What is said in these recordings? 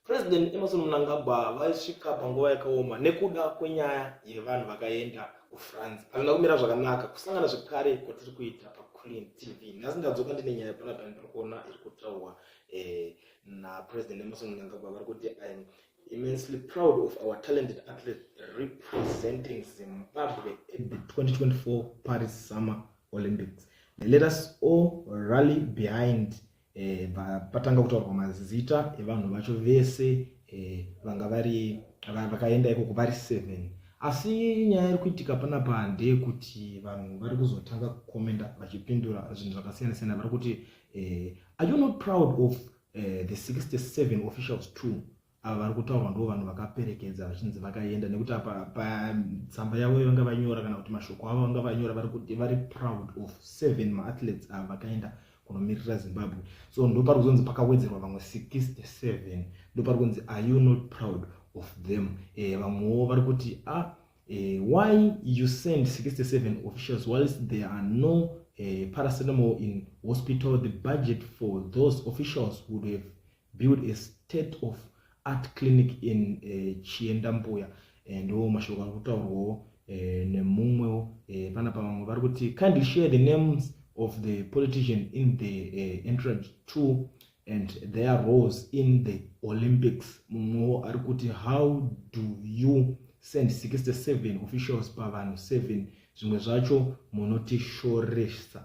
President Emerson Mnangagwa vaisvika panguva yakaoma nekuda kwenyaya yevanhu vakaenda kufrance hazvina kumira zvakanaka kusangana zvekare kwatiri kuita paclean tv nhasi ndadzoka ndine nyaya pana pani tiri kuona iri kutaurwa eh, napresident emerson mnangagwa vari kuti im immensely proud of our talented athlete representing zimbabwe 2024 paris summer olympics let us all rally behind eh, patanga kutaurwa mazita evanhu vacho vese eh, vanga vari vakaenda ikoko vari seven asi nyaya iri kuitika panapa ndeyekuti vanhu vari kuzotanga kukomenda vachipindura zvinhu zvakasiyana siyana vari kuti eh, are you not proud of eh, the 67 officials too ava vari kutaurwa ndo vanhu vakaperekedza vachinzi vakaenda nekuti apa patsamba yavo vanga vanyora kana kuti mashoko avo vanga vanyora vari kuti vari proud of seven maathletes ava vakaenda kunomirira zimbabwe so ndo pari kuzonzi pakawedzerwa vamwe 67 ndo pari kunzi are you not proud of them eh, vamwewo vari kuti a ah, eh, why you send 67 officials whilst there are no eh, paracetamol in hospital the budget for those officials would have build a state of art clinic in uh, eh, chienda mbuya eh, ndo mashoko ari kutaurwawo uh, nemumwewo uh, pana pavamwe vari kuti kindly share the names of the politician in the uh, entrance two and their roles in the olympics mumwewo ari kuti how do you send 67 officials pavanhu 7 zvimwe zvacho munotishoresa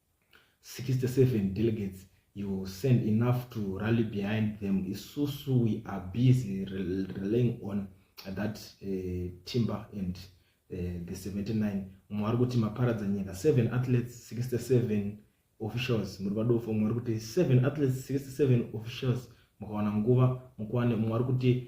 67 delegates you will send enough to rally behind them isusu we are busy relying on that uh, timber and uh, the 79 mumwe ari kuti maparadza nyika 7 athletes 67 officials muri vadofo mumwe ari kuti 7 athletes 67 officials mukawana nguva mukwane mumwe ari kuti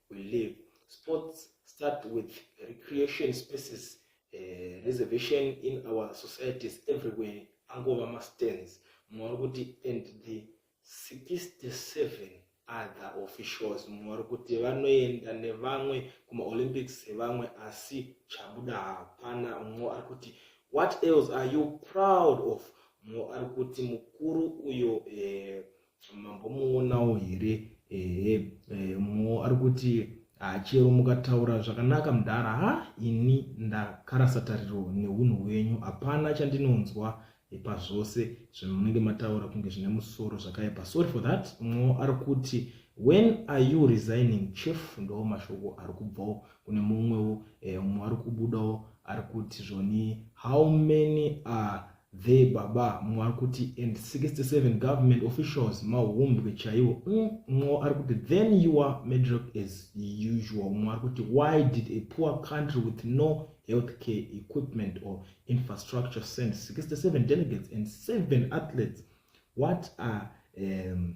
we live sports start with recreation spaces uh, reservation in our societies everywhere angova mastands mumwe ari kuti and the 67 other officials mumwe vari kuti vanoenda nevamwe kumaolympics sevamwe asi chabuda hapana mumwe ari kuti what else are you proud of mumwe ari kuti mukuru uyo eh, mambomuonawo here ehe eh, mo ari kuti ah, chero mukataura zvakanaka mudhara ha ini ndakarasa tariro neunhu hwenyu hapana chandinonzwa pazvose zvamunenge mataura kunge zvine musoro zvakaipa sorry for that mo ari kuti when are you resigning chief ndo mashoko ari kubvawo kune mumwewo eh, mumwe ari kubudawo ari kuti zvoni how many are There baba mwari kuti and 67 government officials mahumbwe chaiwo mm, nxo ari kuti then you are medrock as usual mwari kuti why did a poor country with no health care equipment or infrastructure send 67 delegates and 7 athletes what are um,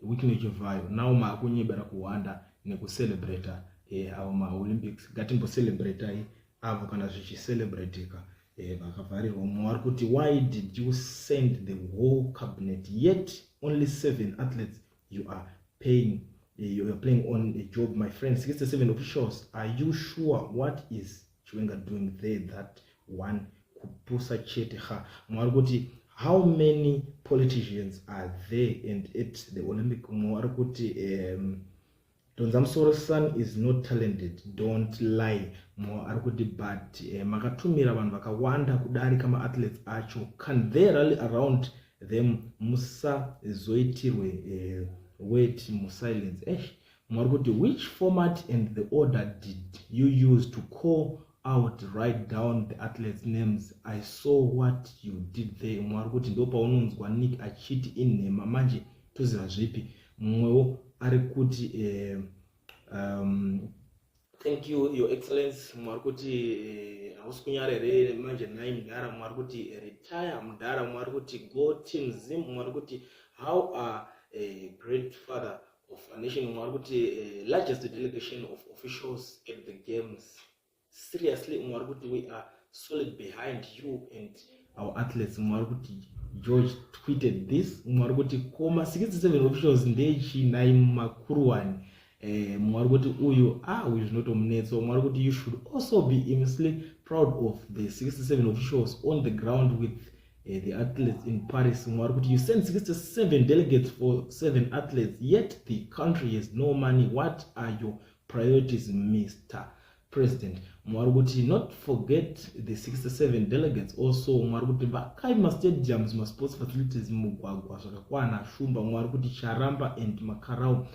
which nechivhayo now maakunyebera kuhwanda nekucelebrata eh, avo maolympics ngatimbocelebretai avo kana zvichiselebratika eh, vakavharirwa mumwe wari kuti why did you send the whole cabinet yet only seven athletes you are paying eh, you are playing on a job my friend 67 officials are you sure what is chiwenga doing there that one kupusa chete ha mwari kuti how many politicians are there and at the olympic mwari kuti um, donza musoro son is not talented don't lie mo ari kuti but eh, makatumira vanhu vakawanda kudarika maathletes acho can they rally around them musazoitirwe eh, wet musilence esh eh, Mwari kuti which format and the order did you use to call out write down the athletes names i saw what you did there mwari kuti ndo paunonzwa nick achiti inhema manje toziva zvipi mumwewo ari kuti eh, um, thank you your excellence mwari kuti eh, hausi eh, kunyara here manje nhai mudhara mwari kuti eh, retire mudhara mwari kuti go team zim mwari kuti how are eh, great father of nation umwe ari kuti eh, largest delegation of officials at the games seriously umwe ari kuti we are solid behind you and our athletes umwe ari kuti george tweeted this umwe ari kuti koma 67 officials ndeyechinai mumakuruwani eh, umwe ari kuti uyu a ah, uyu zvinotomunetsa umwe ari kuti you should also be immensely proud of the 67 officials on the ground with uh, the athletes in Paris Mwari kuti you send 67 delegates for seven athletes yet the country has no money what are your priorities Mr President Mwari kuti not forget the 67 delegates also Mwari kuti vakai mastadiums masports facilities mugwagwa zvakakwana shumba Mwari kuti charamba and makarau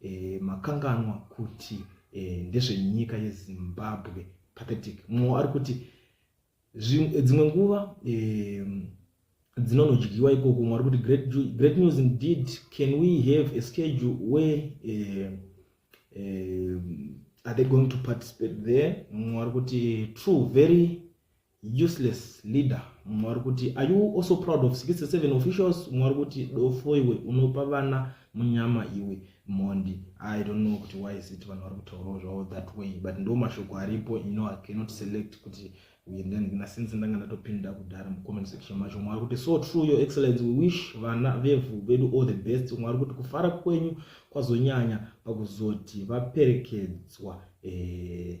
e, makanganwa kuti e, ndezvenyika yezimbabwe pathetic mumwe ari kuti dzimwe nguva e, dzinonodyiwa ikoko mumwe ari kuti great, great news indeed can we have a schedule where e, e, are they going to participate there mumwe ari kuti true very useless leader mumwe ari kuti are you also proud of 67 officials mumwe ari kuti dofo iwe unopa vana munyama iwe mhondi i don't know kuti why is it vanhu vari kutaurawo zvavo that way but ndo mashoko aripo you know i cannot select kuti uyendendina since ndanga ndatopinda kudhara mucomment section macho mwari kuti so true your excellence we wish vana vevhu vedu all the best mwari kuti kufara kwenyu kwazonyanya pakuzoti vaperekedzwa eh,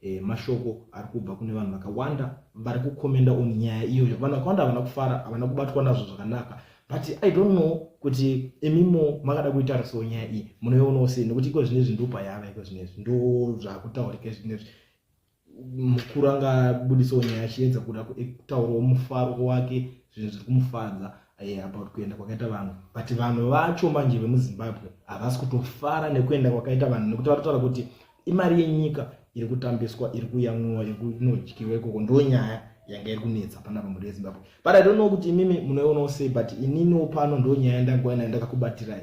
e, mashoko ari kubva kune vanhu vakawanda vari kukomenda on nyaya iyoyo vanhu vakawanda havana kufara havana kubatwa nazvo zvakanaka but i don't know kuti imimo makada kuitarisawo nyaya iyi munoionawo sei nekuti iko zvine izvi ndopa yava iko zvine izvi ndo zvakutaurika izvi nezvi mukuru angabudisawo nyaya achiedza kuda kutaurawo mufaro wake zvinhu zviri kumufadza eh, about kuenda kwakaita vanhu but vanhu vacho manje vemuzimbabwe havasi kutofara nekuenda kwakaita vanhu nekuti vatotaura kuti imari yenyika iri kutambiswa iri kuyamwiwa iri kunodyiwa ikoko ndo nyaya yanga iri kunetsa pana pamhuri yezimbabwe but i don't know kuti imimi munoionawo sei but ininiwo pano ndo nyaya yandangoa nayo ndakakubatirai